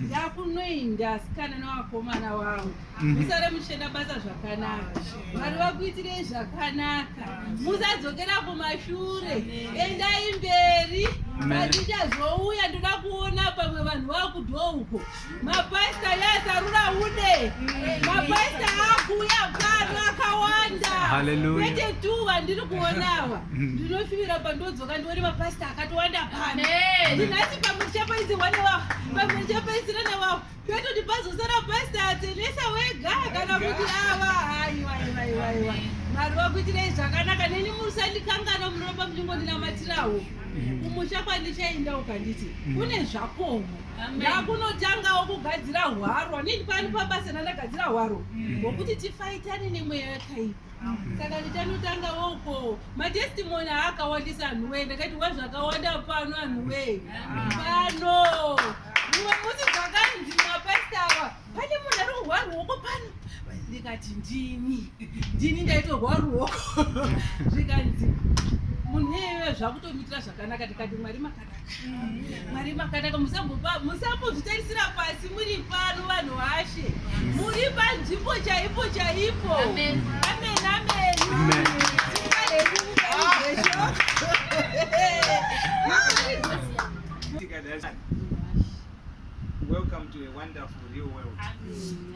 ndakunoinda asikana nevakomana vavo mhm. musare muchenda basa zvakanaka mwari vakuitirei zvakanaka musadzokera kumashure endai mberi vatichazouya ndoda kuona pamwe vanhu vakudho uko mapaista yasarura ude mapaista akuuya pano akawanda kwete tuva ndiri kuonava mhm. ndinofivira pandozi Vakandori mapasita akatowanda pano. Ndinasi pamwe ndichapaidze wane wavo. Pamwe ndichapaisira na wavo. Petoti pazosara pasita atendesa wega kana kuti ava. Aiwa aiwa aiwa aiwa. Mwari vakuitirei zvakanaka neni musandikangana munoramba muchingoninamatirawo. Kumusha kwandichaenda ukanditi kune zvakomo. Ndakunotangawo kugadzira hwaro. Nini pano pabasa ndandagadzira hwaro. Ngokuti tifaitane nemweya yakaipa. saka ndichanotanga woko matestimony aakawandisa anhu wee ndakati wazvakawanda pano anhu wee pano mumwe musi zvakanzi mapasitawa pane munhu ari kuhwa ruoko pano ndikati ndini ndini ndaitorwa ruoko zvikanzi munhu iyeye zvakutomitira zvakanaka ndikati mwari maka mwari makanaka musambozvitarisira pasi muri pano vanhu vashe muri panzvimbo chaipo chaipo amen amen Welcome to a wonderful real world.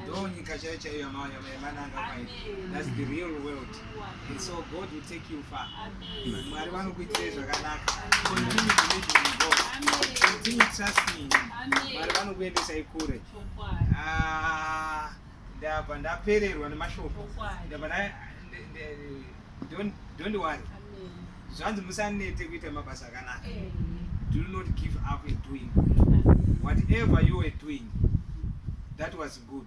Don't That's the real world. And so God will take you far. Mwari vanokuitirei zvakanaka. Continue believing in God. Continue trusting in Him. Mwari vanokuendesai kure. Ah, ndabva ndapererwa nemashoko. Ndabva nda nde- nde- don't don't worry. Zvanzi musanete kuita mabasa akanaka. Do not give up in doing good. Whatever you were doing, that was good.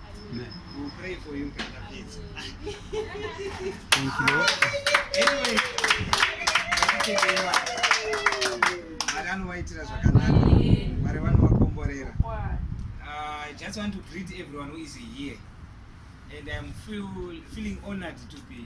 vanovaitira zvakanaka mwari vanovakomborera ah, i just want to greet everyone who is here and i'm feel, feeling honored to be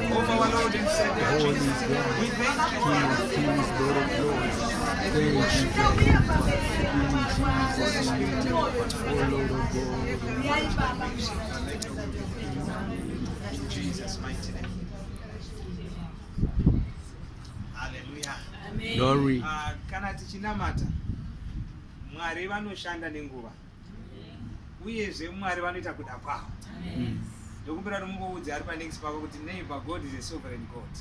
Jesus mighty name. Hallelujah. Glory. Uh, kana tichinamata Mwari vanoshanda nenguva. uyezve mwari vanoita kuda kwavo ndokumbira kuti mungoudze ari panext pako kuti neighbor god is a sovereign god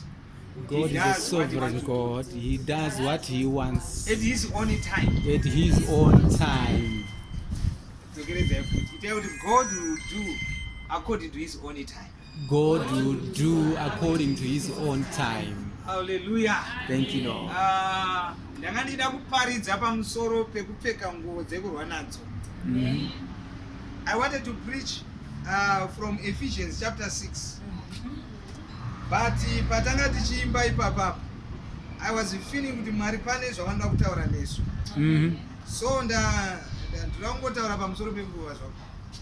God is a sovereign God. He does what He wants at his own time. At His own time. Togeredzai kuti itai kuti God will do according to His own time. God will do according to his own time. Hallelujah. Thank you Lord. Uh, ndanga ndida kuparidza pamusoro pekupfeka nguo dzekurwa nadzo. Mm. I wanted to preach uh, from Ephesians chapter 6. But patanga tichiimba ipapa I was feeling kuti Mwari pane zvavanoda kutaura nesu. Mm. So nda ndinotaura pamusoro penguva zvako.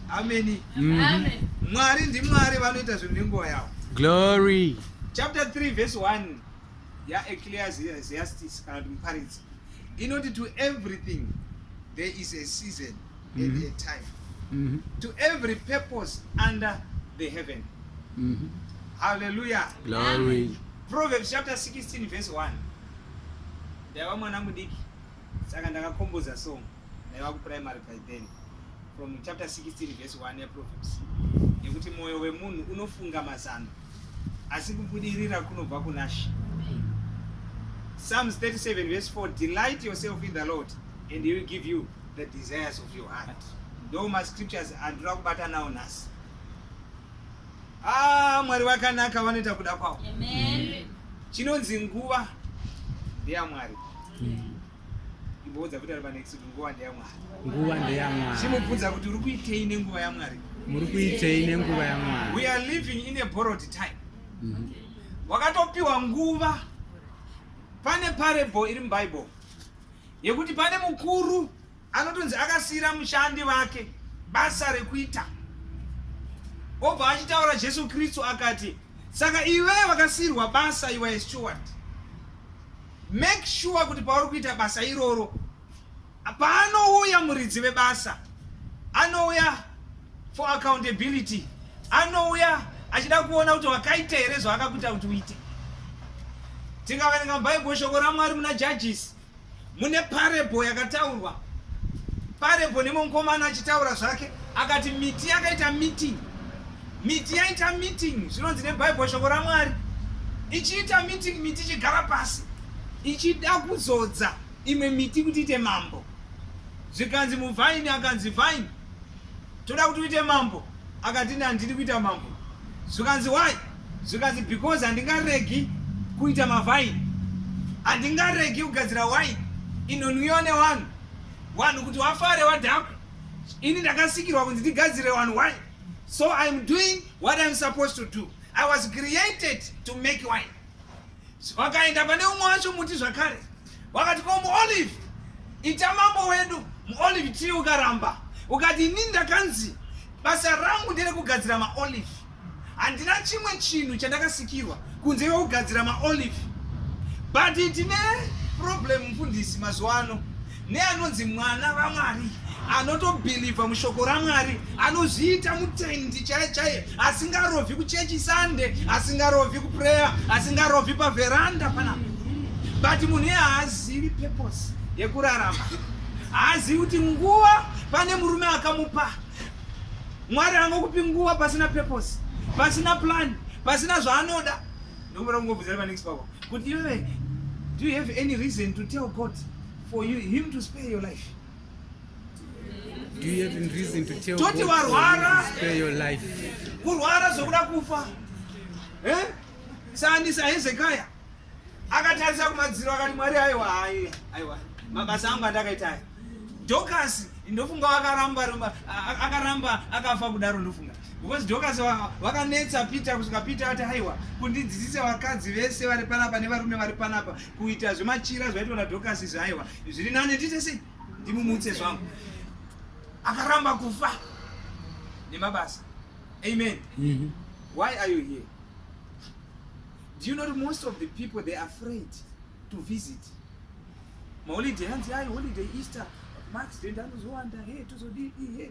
ameni mhm. mwari ndimwari vanoita zvinhu nenguva yavo glory chapter 3 verse 1 yaecleasiastis kana kuti muparidzi inoti to everything there is a season and mm -hmm. a mhm. time mm -hmm. to every purpose under the heaven mm -hmm. haleluya glory proverbs chapter 16 verse 1 ndaiva mwana mudiki saka ndakakomboza song naiva kuprimary by then from chapter 16 verse 1 yeproverbs nekuti mwoyo wemunhu unofunga mazano asi kubudirira kunobva kunashe psalms 37 verse 4 delight yourself in the lord and he will give you the desires of your heart ndo mascriptures andinoda kubata nawo nhasi ah, mwari vakanaka vanoita kuda kwavo chinonzi nguva ndeyamwari mm. imboudza kuti ari panext kuti nguva ndeyamwari nguva ndeyamwari chimubvunza kuti uri kuitei nenguva yamwari muri kuitei nenguva yamwari we are living in a borrowed time mhm. wakatopiwa nguva pane parable iri mubible yekuti pane mukuru Anotonzi akasiira mushandi vake basa rekuita. Obva achitaura Jesu Kristu akati, saka iwe wakasiirwa basa iwe steward. Make sure kuti pauri kuita basa iroro paanouya muridzi vebasa anouya for accountability anouya achida kuona kuti wakaita here zvaakakuita kuti uite tikaverenga bhaibheri shoko ramwari muna judges mune parable yakataurwa parable nemwe mukomana achitaura zvake akati miti yakaita meeting miti yaita meeting zvinonzi nebhaibheri shoko ramwari ichiita meeting miti ichigara pasi ichida kuzodza imwe miti kuti ite mambo zvikanzi muvhaini akanzi vhaini toda kuti uite mambo akati nandidi kuita mambo zvikanzi why zvikanzi because handingaregi kuita mavhaini handingaregi kugadzira waini inonwiwa nevanhu vanhu kuti wafare wadhakwa ini ndakasikirwa kunzi ndigadzire vanhu waini so iam doing what iam supposed to do i was created to make wine vakaenda pane umwe wacho muti zvakare wakati ko muolive ita mambo wedu muolive tii ukaramba ukati ini ndakanzi basa rangu nderekugadzira maolive handina chimwe chinhu chandakasikirwa kunze kwekugadzira maolive but tine problem mfundisi mazuva ano neanonzi mwana vamwari anotobhilivha mushoko ramwari anozviita mutendi chaiye chaiye asingarovhi kuchechi sande asingarovhi kupreya asingarovhi pavheranda panapa but munhu iye haazivi purpose yekurarama haazivi kuti nguva pane murume akamupa mwari angokupi nguva pasina purpose pasina plan pasina zvaanoda ndokuda kungobvunzira panext pavo kuti iwewe do you have any reason to tell god for you, him to spare your life. Do you have reason to tell Toti God warwara, to spare your life? Kurwara zvokuda kufa. Eh? Saandisa Hezekiah akatarisa kumadziro akati Mwari aiwa hayi aiwa mabasa angu andakaita aya. Dorcas ndofunga wakaramba ramba akaramba akafa kudaro ndofunga because Dorcas wakanetsa Peter kusvika Peter ati haiwa kundidzidzisa vakadzi vese vari panapa nevarume vari panapa kuita zvemachira zvaitwa nadhokasi izvi aiwa zviri nani ndiite sei ndimumutse zvangu akaramba kufa nemabasa amen mm -hmm. why are you here do you know that most of the people they are afraid to visit maholiday hanzi ayi holiday easter max denda anozowanda he tozodii he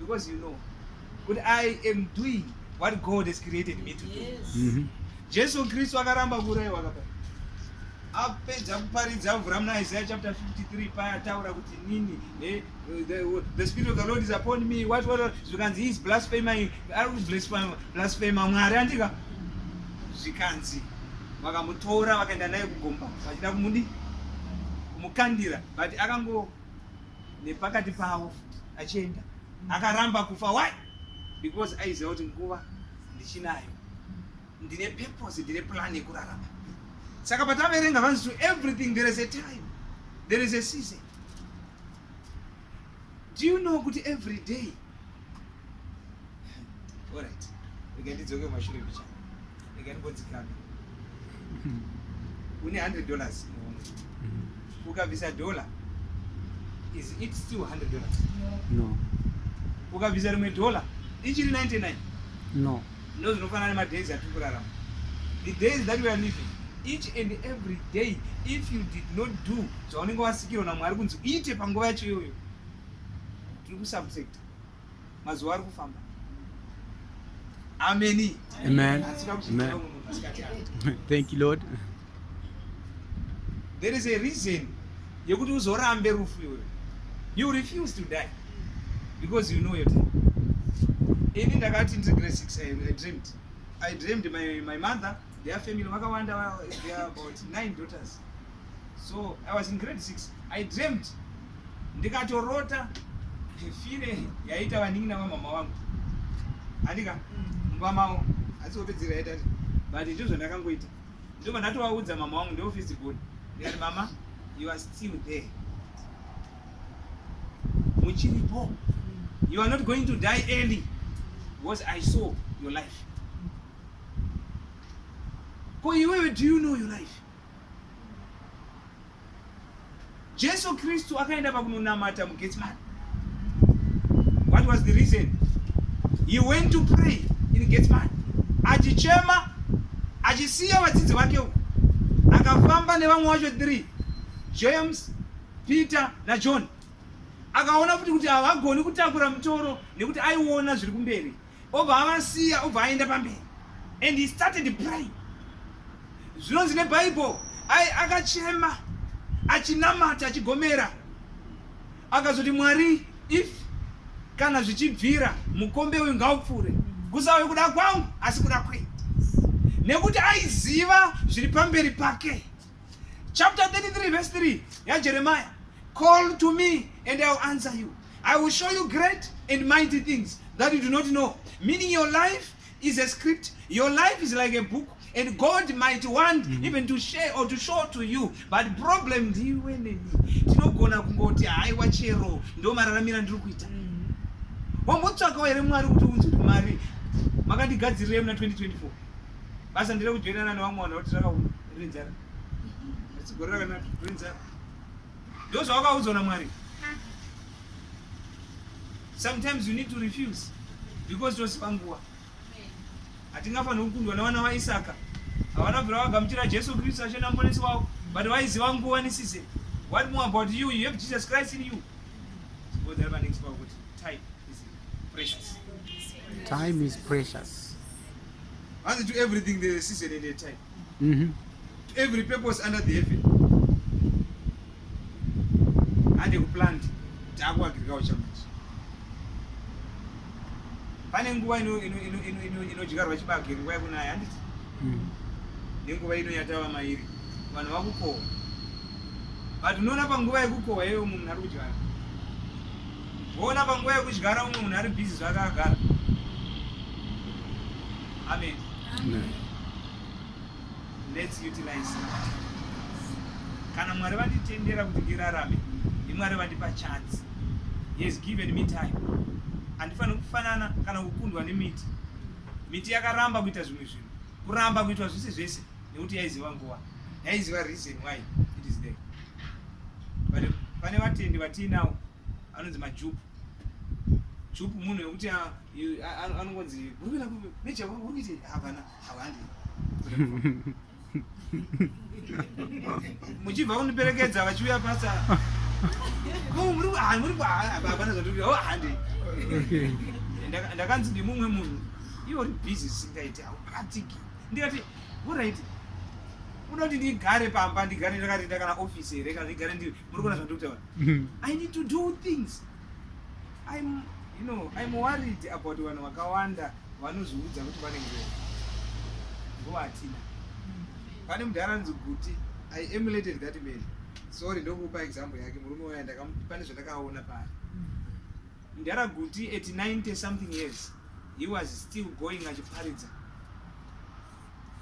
because you know kuti i am doing what god has created me to do yes. mm -hmm. jesu kristu akaramba kuurayiwa kapa apedza kuparidza avhura muna isaya chapter 53 paya ataura kuti nini eh, the, the spirit of the lord is upon me what what zvikanzi is blasphema ari kublasphema mwari andika zvikanzi vakamutora vakaenda naye kugomba vachida kumudi kumukandira but akango nepakati pavo achienda akaramba kufa why because aiziva kuti nguva ndichinayo ndine purpose ndine plan yekurarama saka pataverenga vanzi to everything there is a time there is a season do you know kuti every day Alright. Rega ndidzoke kumashure bicha. Rega ndimbodzikame. Une 100 dollars. Ukabvisa dollar is it still 100 dollars? No. Ukabvisa rimwe dollar ichiri 99? No. Ndo zvinofanana nemadays atiri kurarama. The days that we are living each and every day if you did not do zvaunenge wasikirwa naMwari kunzi uite panguva yacho iyoyo tiri kusubsecta mazuva ari kufamba ameni amen thank you lord there is a reason yekuti uzorambe rufu iwe you refuse to die because you know your time ini ndakati ndiri grade six i dreamed i dreamed my, my mother their family vakawanda they are about nine daughters so i was in grade six i dreamed ndikatorota fire yaita vanin'ina vamama vangu andika mvamao asi opedzera yaita but ndizvo ndakangoita ndobva ndatovaudza mama wangu ndeofisi good ndikati mama you are still there muchiripo you are not going to die early because i saw your life ko iwewe do you know your life Jesu Kristu akaenda pakunonamata muGetsemane. What was the reason? He went to pray in Getsemane. Achichema, achisiya vadzidzi vake uko. Akafamba nevamwe wacho 3, James, Peter na John. Akaona futi kuti havagoni kutakura mutoro nekuti aiona zviri kumberi. obva avasiya obva aenda pamberi and he started praying zvinonzi nebible ai akachema achinamata achigomera akazoti mwari if kana zvichibvira mukombe uyu ngaupfuure kusauye kuda kwangu asi kuda kwenyu nekuti aiziva zviri pamberi pake chapter 33 verse 3 yajeremaya call to me and iwill answer you i will show you great and mighty things that you do not know meaning your life is a script your life is like a book and god might want mm -hmm. even to share or to show to you but problem ndiwe neni tinogona kungoti haiwa chero ndo mararamira ndiri kuita mm -hmm. wambotsvakawo here mwari kuti unzwe mari makandigadzirirei muna 2024 basa ndire kujoinana nevamwe vanhu vakuti rakauma rine njara asi gore rakanaka rine njara ndo zvawakaudzwa namwari sometimes you need to refuse because tosipa nguva hatingafaniri kukundwa nevana vaisaka havana bvira vagamuchira jesu kristu ashe namonesi wavo but vaiziva nguva nesize what more about you you have jesus christ in you zvibodzari panext pakuti type Precious. Time is precious. And to everything there is a season and a time. Mm -hmm. To every purpose under the heaven. And you plant taku agriculture manje. Pane nguva ino ino ino ino ino inodyarwa chibage nguva yekunaya handiti? Mm. Nenguva ino yatava mairi vanhu vakukohwa. But unoona panguva yekukohwa iyoyo munhu ari kudyara. Voona panguva yekudyara umwe munhu ari busy zvake agara. Amen. Amen. Let's utilize kana mwari vanditendera kuti ndirarame ndimwari vandipa chance he has given me time handifaniri kufanana kana kukundwa nemiti miti yakaramba kuita zvimwe zvinhu kuramba kuitwa zvese zvese nekuti yaiziva nguva yaiziva reason why it is there but pane vatendi vatiinawo anonzi majupu jupu munhu wekuti ah, ah, anongonzi uri kuenda kupi meja uri kuiti havana havandi muchibva kundiperekedza vachiuya pasa hapana zvatiri oh, handi ndakanzi ndimumwe munhu iwo uri busy singaiti haupatiki ndikati Alright. Unoda kuti ndigare pamba ndigare ndakarinda kana office here kana ndigare ndiri muri kuona zvandiri kutaura. Mhm. I need to do things. I'm you know I'm worried about vanhu vakawanda vanozviudza kuti vane nguva. Nguva hatina. Pane mudhara anonzi Guti. I emulated that man. Sorry ndokupa example yake murume waya ndakamu pane zvandakaona paari. Mdhara Guti at 90 something years he was still going achiparidza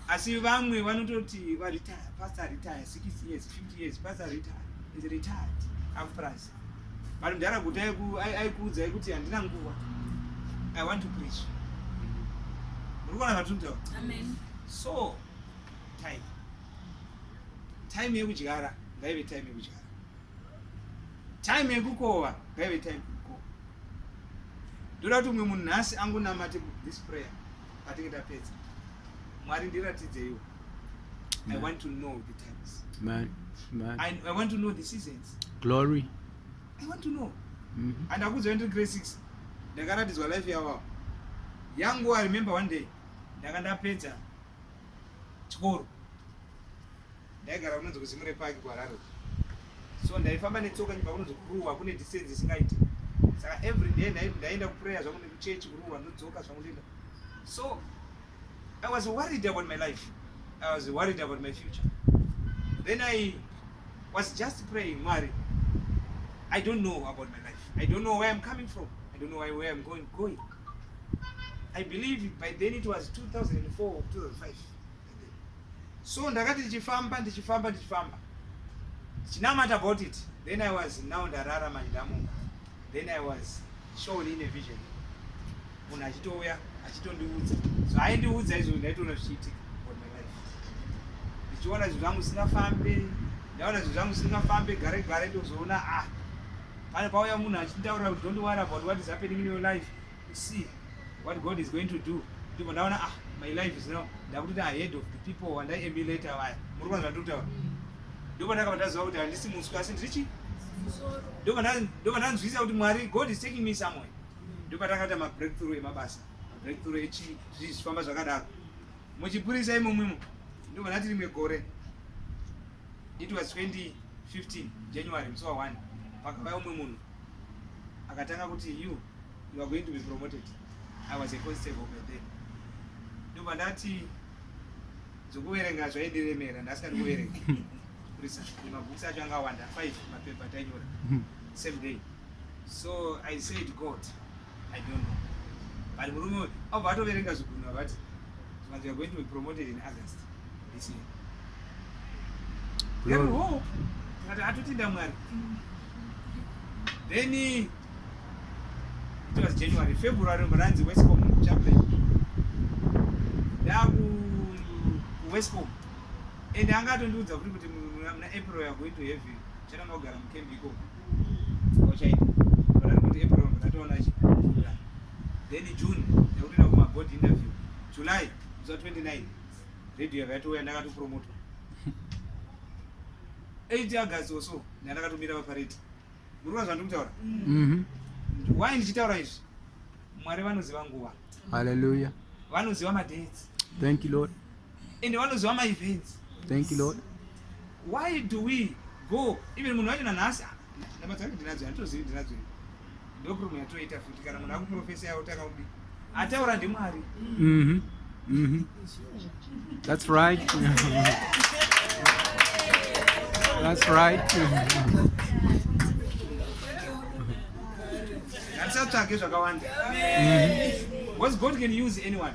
asi vamwe vanototi varetire pastor retire 60 years 50 years pastor retire is retired afras but mdhara Guti aikuudzai kuti handina nguva i want to preach muri kuona zvatintaura so time time yekudyara ngaive time yekudyara time yekukova ngaive time yekukova ndoda kuti umwe munhu nhasi angonamate this prayer patinge tapedza mwari ndiratidzeiwo i want to know the times man, man. I, i want to know the seasons glory i want to know mm -hmm. and akuziva ndiri grade six ndakaratidzwa life yavo yangu i remember one day ndanga ndapedza chikoro Ndaigara kunonzi kuZimure Park kuHarare uko. So ndaifamba netsoka nyumba kunonzi kuruwa kune distance isingaiti. Saka every day ndai- ndaienda kuprayer zvangu nekuchurch kuruwa ndodzoka zvangu ndoenda. So I was worried about my life. I was worried about my future. Then I was just praying, Mwari, I don't know about my life. I don't know where I'm coming from. I don't know where, where I'm going. going. I believe by then it was 2004 or 2005. so ndakati ndichifamba ndichifamba ndichifamba chinamata about it then i was now ndarara manje ndamuka then i was shown in a vision munhu achitouya achitondiudza so aindiudza izvo ndaitoona zvichiitika on my life ndichiona zvinhu zvangu zvisingafambe ndaona zvinhu zvangu zvisingafambe gare gare ndozoona ah pane pauya munhu achinditaura kuti don't worry about what is happening in your life to see what God is going to do ndipo ndaona ah my life is now ndakutoita ahead of the people wandai emulator vaya muri kuona zvandiri kutaura ndipo ndakabva ndaziva kuti handisi muswi asi ndiri chi ndipo ndanzwisisa kuti mwari god is taking me somewhere ndipo takaita mabreakthrough emabasa mabreakthrough echii zvii zvifamba zvakadaro muchipurisa imomwimo ndipo ndati rimwe gore it was 2015 january musi wa 1 pakavaya umwe munhu akatanga kuti you you are going to be promoted i was a constable by then ndobva ndati zvokuverenga zvaidiremera ndasingadi kuverenga kurisa mabhuks acho angawanda five mapepa tainyora same day so i said god I don't know. But murume uyu abva atoverenga zvigunhu akati but you are going to be promoted in August this year. Then Glory. hope tikati atotenda Mwari. Then it was January, February mranzi Westcom chaplain. Ndaku Westcom. And anga atondiudza kuti kuti muna muna April you are going to have it. Chana mogara mukembi ikoko. ochaita but ari kuti april ndatoona achikura then june ndakutoenda kumaboard interview july zuva 29 radio yava yatouya ndakatopromotwa 8 august oso ndandakatomira vapareti muri kuva zvandiri kutaura mhm. why ndichitaura izvi mwari vanoziva nguva haleluya vanoziva madates thank you lord ende vanoziva my events thank you lord why do we go even munhu wacho nanhasi ah, nama dzange ndinadzo handitozivi ndinadzo ndopromo yatoita futi kana munhu akuprofesa yaotanga kudi ataura ndimwari mhm. mhm. that's right that's right handisatsvage zvakawanda mhm. was god can use anyone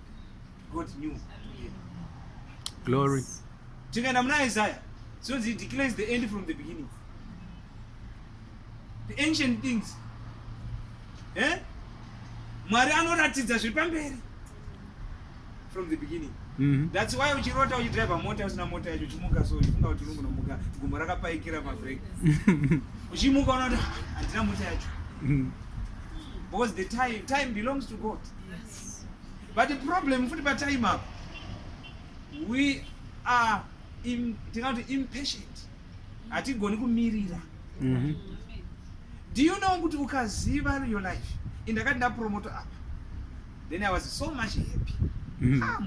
God knew. Glory. Tikaenda muna Isaiah, so he declares the end from the beginning. The ancient things. Eh? Mwari anoratidza zviri pamberi from the beginning. Mm-hmm. That's why uchirota uchidriver mota usina mota yacho uchimuka so uchifunga kuti uri kunomuka gumbo rakapaikira mabrek uchimuka unoda handina mota yacho mm-hmm. because the time time belongs to God. Yes. but problem futi patime apo we are im, tingati impatient hatigoni kumirira mm -hmm. do you know kuti ukaziva your life indakati ndapromoto apa then i was so much happy mm -hmm. ah,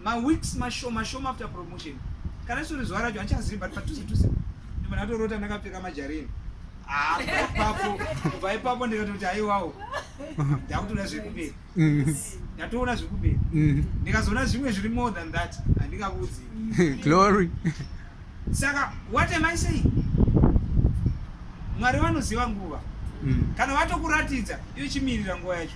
maweeks mashoma shoma after promotion kana sori zuva racho handichazivi but patuse tuse ndimunhu atorota ndakapfeka majarini ah, papo kubva ipapo ndikatoti haiwawo ndakutoda zvekuberi ndatoona zvekuberi mm. ndikazoona zvimwe zviri more than that handingakuudzi glory saka what am i saying mwari vanoziva nguva mm. kana vatokuratidza iwe chimirira nguva yacho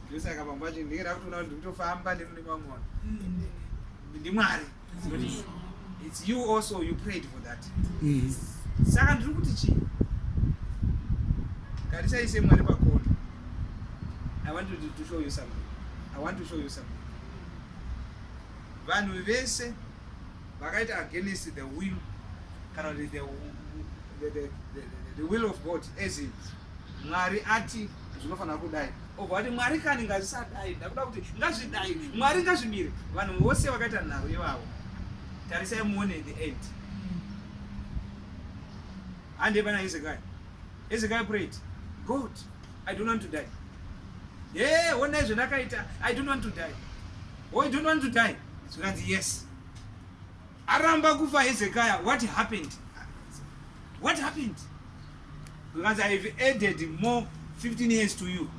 ndosaka pamba pacho ndinge ndakutoona kuti ndikutofamba nemune vamwe vanhu mm. ndimwari its you also you prayed for that mm. saka ndiri kuti chii karisaise mwari pakona i want to show you something i want to show you something vanhu vese vakaita against the will kana kuti the, the, the, the, the will of god as it Mwari ati zvinofanira kudai obva ati mwari kani ngazvisadai ndakuda kuti ngazvidai mwari ngazvimire vanhu vose vakaita nharo ivavo tarisai muone the end hande pana hezekai hezekai prayed god i don't want to die ye yeah, onai zvendakaita i don't want to die o oh, i don't want to die zvikanzi yes aramba kufa hezekaya what happened what happened Because I have added more 15 years to you.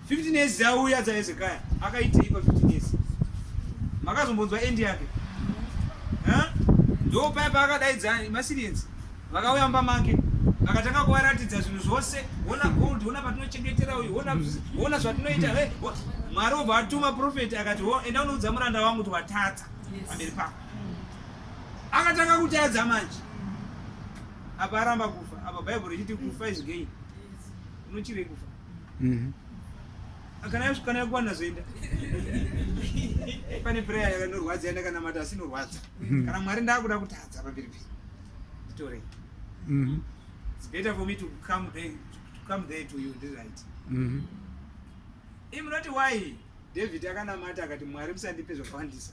15 mm. years dzauya dzaHezekaya akaitei pa 15 years? Makazombonzwa end yake? Ndo paya paakadaidza maSirians vakauya mumba make akatanga kuvaratidza zvinhu zvose, ona gold, ona patinochengetera uyu, ona mm. ona zvatinoita. Hey, Mwari obva atuma profeti akati, oh, enda unoudza muranda wangu kuti watadza pamberi pako. Akatanga kutadza manje. apa aramba kufa apa bible richiti kufa is gain unochirei kufa mm-hmm. kana yasvikana yakuwana zvoenda pane prayer yakanorwadza yandakanamata asi inorwadza mm-hmm. kana mwari ndakuda kutadza pamberi pei nditorei mm-hmm. its better for me to come there, to come there to you ndi right imunoti why david akanamata akati mwari musandipe zvakawandisa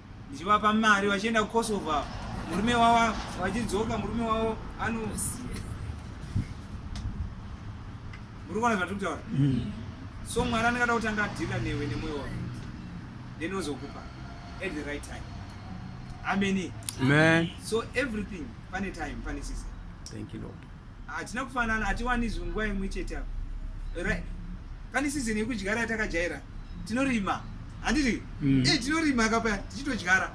ndichivapa mari vachienda kukosovo murume wavo vachidzoka murume wavo ano muri kuona zvatiri kutaura mm. so mwari anengada kuti anga adhila newe nemwoyo wako then ozokupa at the right time ameni so everything pane time pane season thank you lord hatina kufanana hatiwani zvinhu nguva imwe chete apa right pane season yekudyara yatakajaira tinorima handiti mm. e tinorima kapa tichitodyara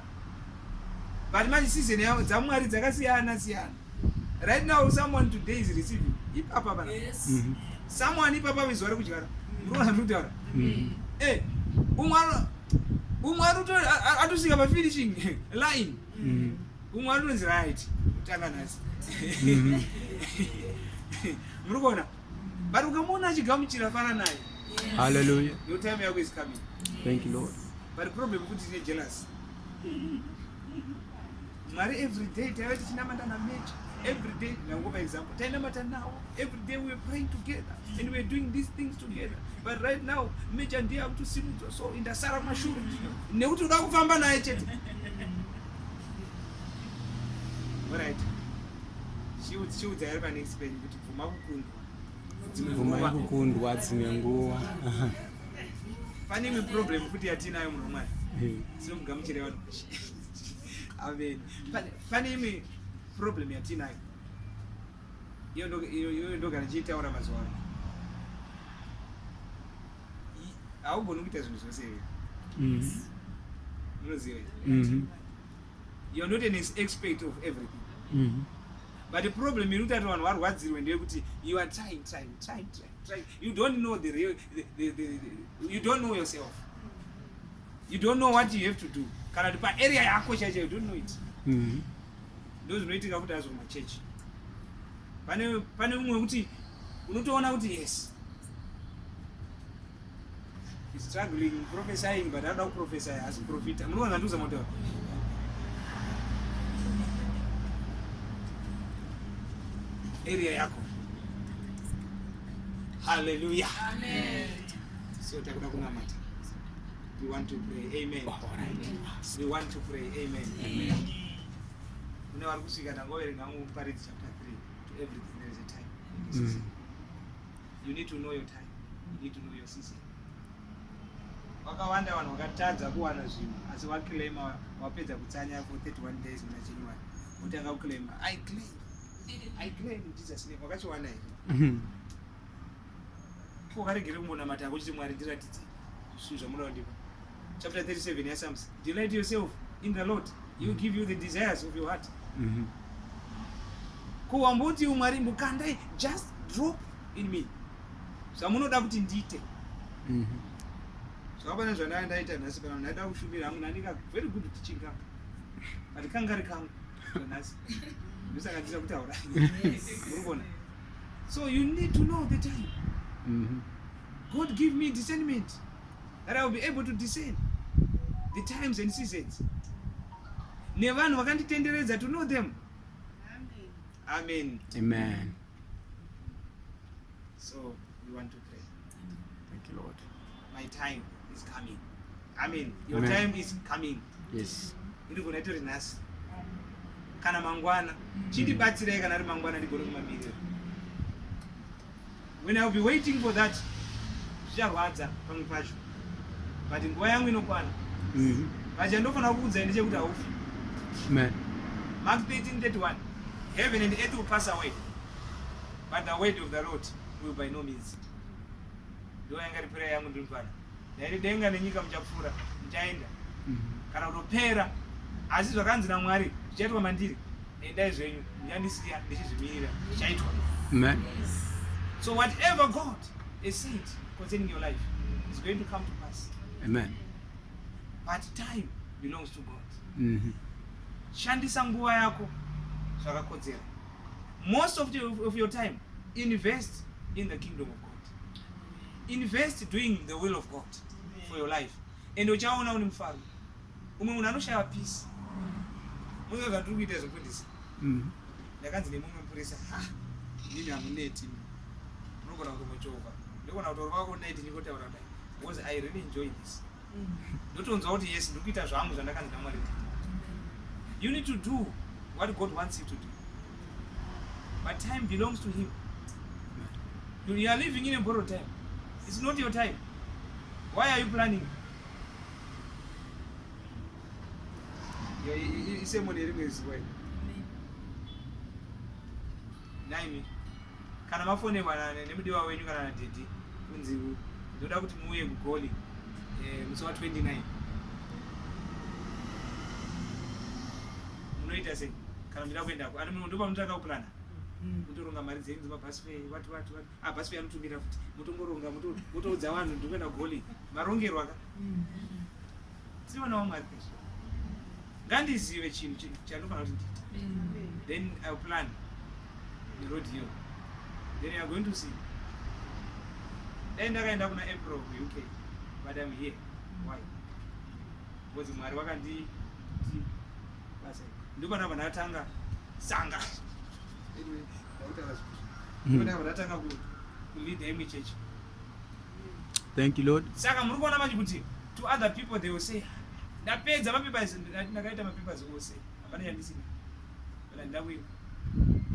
but manje season yavo dzamwari dzakasiyana siyana right now someone today is receiving ipapa pana yes. mm -hmm. someone ipapa vezuva rekudyara murona mm. ndikutaura mm. e umwe umwe atosvika pafinishing line mm. umwe anonzi right kutanga nhasi mhm. muri kuona but ukamuona achigamuchira fara naye haleluya your time yako is coming thank you lord but problem kuti tine jealous mwari every day taiva tichinamata namecha every day ndangopa example tainamata nawo every day weare praying together and weare doing these things together but right now mecha ndiye akutosimudza so indasara mashure nekuti uda kufamba naye chete Alright. Chiudzi chiudzi ari pane Spain kuti bvuma kukundwa. Dzimwe Bvuma nguva yekukundwa dzimwe nguva. pane imwe problem kuti yatinayo munhu mwari. Eh, Sinomugamuchira vanhu. Amen. Pane pane imwe problem yatinayo. Iyo ndo iyo iyo ndogara ndichitaura mazuva ano. haugoni kuita zvinhu zvose here mm. munoziva mm-hmm. you're not an expert of everything mm-hmm. but the problem iri kutati vanhu varwadzirwe ndeyekuti you are trying trying trying trying trying you don't know the real the, the, the, the, you don't know yourself you don't know what you have to do kana kuti paarea yako chaicho you don't know it mm-hmm. ndo zvinoitika kuti azvo machechi pane pane umwe wekuti unotoona kuti yes struggling prophesying but anoda kuprofesy asi profita munoona zvandiuza motaura area yako haleluya so takuda kunamata we want to pray amen we want to pray amen kune vari kusvika tangoverenga muparidzi chapter 3 vakawanda vanhu vakatadza kuwana zvinhu asi waclaima wapedza kutsanya for 31 days muna january wotanga kuclaima i claim i claim jesus name wakachiwana here mhm. ko varegere kumbonamata kuchiti mwari ndiratidzei zvinhu zvamunoda kundipa chapter 37 yaSams delight yourself in the Lord he will give you the desires of your heart mm -hmm. ko wamboti umwari mbukandai just drop in me zvamunoda kuti ndiite mm -hmm zvakapana zvandanga ndaita nhasi kana ndaida kushumira hangu ndandika very good teaching kangu but kangari kangu nhasi ndosaka ndisa kutaura urikuona so you need to know the time mm -hmm. god give me discernment that I will be able to discern the times and seasons nevanhu vakanditenderedza to know them amen amen so we want to pray thank you lord my time is coming amen your amen. time is coming yes iri gona itori nhasi kana mangwana chindibatsirai kana ari mangwana ndigone kumamirira When I'll be waiting for that zvicharwadza pamwe pacho but nguva yangu inokwana mm-hmm. but chandofanira kukuudzai ndechekuti haufi mark 1331 heaven and earth will pass away but the word of the lord will by no means ndo yanga ri prayer yangu ndiri mfana Dai denga nenyika muchapfuura muchaenda mhm. kana kutopera asi zvakanzi namwari zvichaitwa mandiri endai zvenyu muchandisiya ndichizvimirira zvichaitwa so whatever god is said concerning your life is going to come to pass amen but time belongs to god mm -hmm. shandisa nguva yako zvakakodzera most of, the, of your time invest in the kingdom of god invest doing the will of god for your life and uchaona une mufaro umwe munhu anoshaya peace muza zvatiri kuita zvekundisa mm-hmm. ndakanzi nemumwe mupurisa ha ndini hamuneti unogona kutomochovha ndogona kutorova kuneti ndikotaura dai because i really enjoy this ndotonzwa kuti yes ndiri kuita zvangu zvandakanzi namwari kuti you need to do what god wants you to do but time belongs to him you are living in a borrowed time it's not your time why are you planning isemune rimwe zuva nhaimi kana mafonerwa nemudiwa wenyu kana nadhedhi kunzi ndoda kuti muuye kugoli eh, musi wa 29 munoita sei kana muchida kuendako ani munhu ndopamunotanga kuplana mutoronga mm. mari dzenyu dzemabhasi fe wati wati wati Abasi uya anotumira futi motongoronga motoudza vanhu ndikuenda goli marongerwa ka tionawo mwari pezvo ngandizive chinhu chandofanira kuti ndiite then iw plan neroad iyo then youare going to see dai ndakaenda kuna april kuuk but im here why because mwari wakandi basa ndipana vanatanga sanga anyway. Hmm. Thank you Lord. Saka muri kuona manje kuti to other people they will say ndapedza mapapers ndakaita mapapers ose hapana chandisina kana ndakuiwa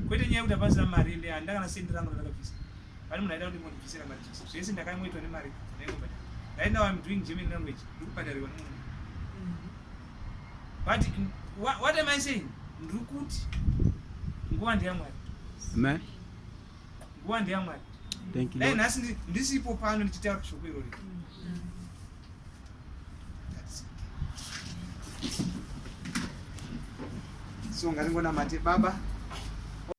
kwete nyaya yekuti hapasina mari ende handa kana sendi rangu ndakabvisa pane munhu aida kuti mondibvisira mari jese zvese ndakangoitwa nemari ndaingobatira right now im doing german language ndikubhatarirwa nemunhu but what, what am i saying ndiri kuti nguva ndeyamwari amen nguva ndeyamwari thank you dai nhasi ndisipo pano ndichitaura shoko irori so ngaringonamate baba